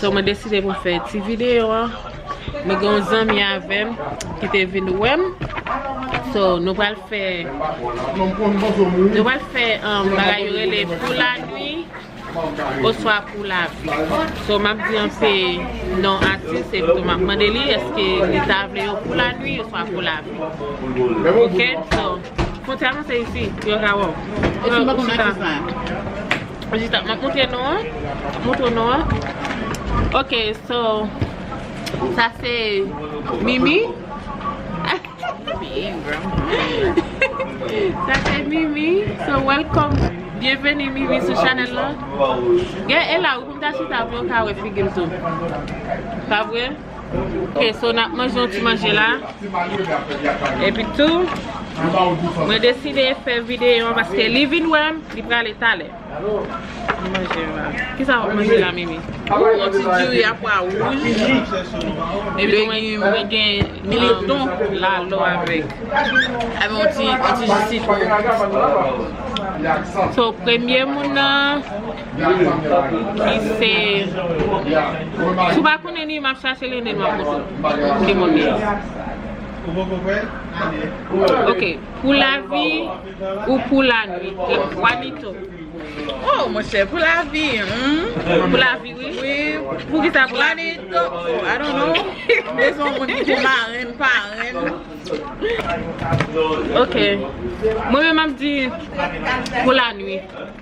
So mwen deside pou m fè ti videyo an. Nou gen yon zanmi avè m ki te vin wè m. So nou pral fè Nou pral fè bagay yo rele pou la nwi Oswa pou la vi So map di an se non atis epi tou map mande li eske li ta vle yo pou la nwi oswa pou la vi Ok so. Monte a monte isi pou yo ka wè w. E si m pa konn atis la? Ou chita. M ap montre nou an. M ap montre nou an. Ok so sa se Mimi. Sa se Mimi. So welcome. Byenveni Mimi sou chanèl la. Gen e la wi pou m ta chita pou yo ka wè figi m tou. Pa vre? Ok so nap manje yon ti manje la Epi tou Mwen deside fè videyo an paske li vin wèm li prale talè Mwen manje yon la Kisa wap manje la Mimi? Yon ti diri a pwa wouj Epi mwen gen Militon lalo avèk Avèk yon ti jus sitwon So premye moun nan Li se Si w pa konnen li, m ap chache l e nen map montre w ki moun li ye. Ok Pou lavi ou pou lanwit Wanito Oh monchè pou lavi humm Pou lavi wi Wi Poukisa pou lavi Wanito oh I don't know Li son moun ki te marenn parenn Ok Mwen menm map di Pou lanwit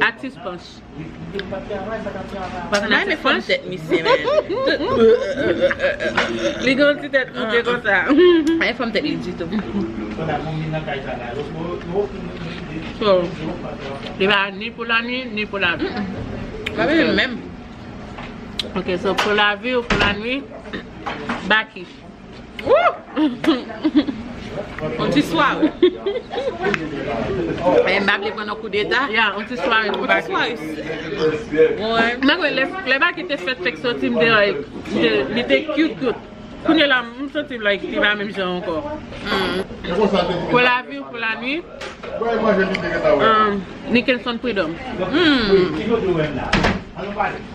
Atis panch. Panch bay men fòm tèt misye menn. Li gen yon ti tèt moute konsa. Pa gen fòm tèt li ditou. So, li pa ni pou la nwi, ni pou la vi. Pa menm menm. Ok, so pou la vi ou pou la nwi, Bakish. Wouuhh! On ti sware. Eeh m pa vle pran nan kou deta. Ya, on ti sware pou Baky. On ti sware. Mwen. M pa kwè lè Baky te fèt fèk soti m te like, li te cute cute. Kounye la m santi like li pa menm jan ankò. Humm. Pou la vie ou pou la nuit. Nickelson Prudhomme. Humm.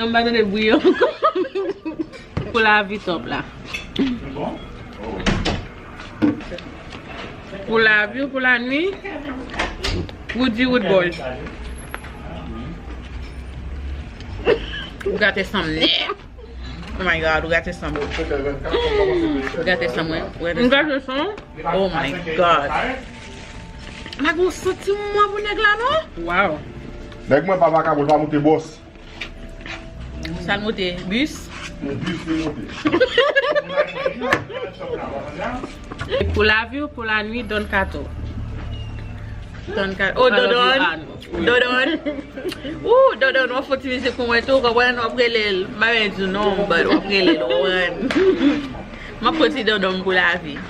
An ba tande bwi an anko. Pou lavi top la. Pou lavi ou pou la nwi. Woody wood boy. Ou gate san m net. Oh my god ou gate san m. Ou gate san mwen. Ou gate san. Oh my god. La gen yon santi mwa pou nèg la non. Waww. Nèg mwen pa vakabon li pa moute bòs. Sal moute bus. Se bus li moute. Pou laviw pou la nwi don kato. Oh dondon dondon ooh dondon wap fon ti mizik pou mwen tou konprann wap relel m pa menm diw non but wap relel ou konprann map fon ti dondon pou lavi.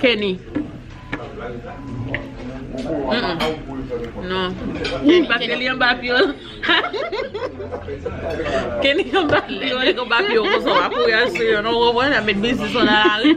Kenny Non Paske li anba pye w Kenny anba pye w Lè nèg anba pye w konsa w pa kouri al sou yo non ou konprann? Ap met biznis w nan lari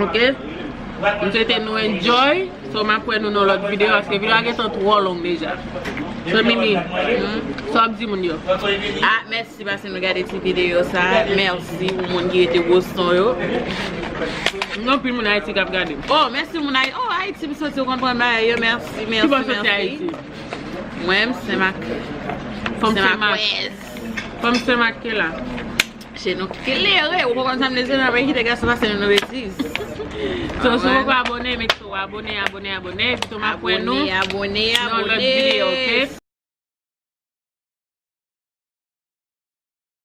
Ok M swete nou enjoy So map wè nou nan lòt video Paske video a gentan twò long deja So mimi Sa wap di moun yo Ah mèsi paske nou gade ti video sa Mèsi pou moun ki rete Boston yo Gen anpil moun Ayiti kap gade m Oh mèsi moun Ayiti Oh Ayiti m soti ou konn pwen bagay yo Mèsi mèsi Kibò soti Ayiti Mwen m Senmak Senmakwèz Fòm Senmak ke la. Che nou klere, ou pa konn sa m bezwen nan men kite gason pase nou nan betiz. So si ou poko abone make sure ou abone abone abone epi tou map wè nou nan yon lòt video ok.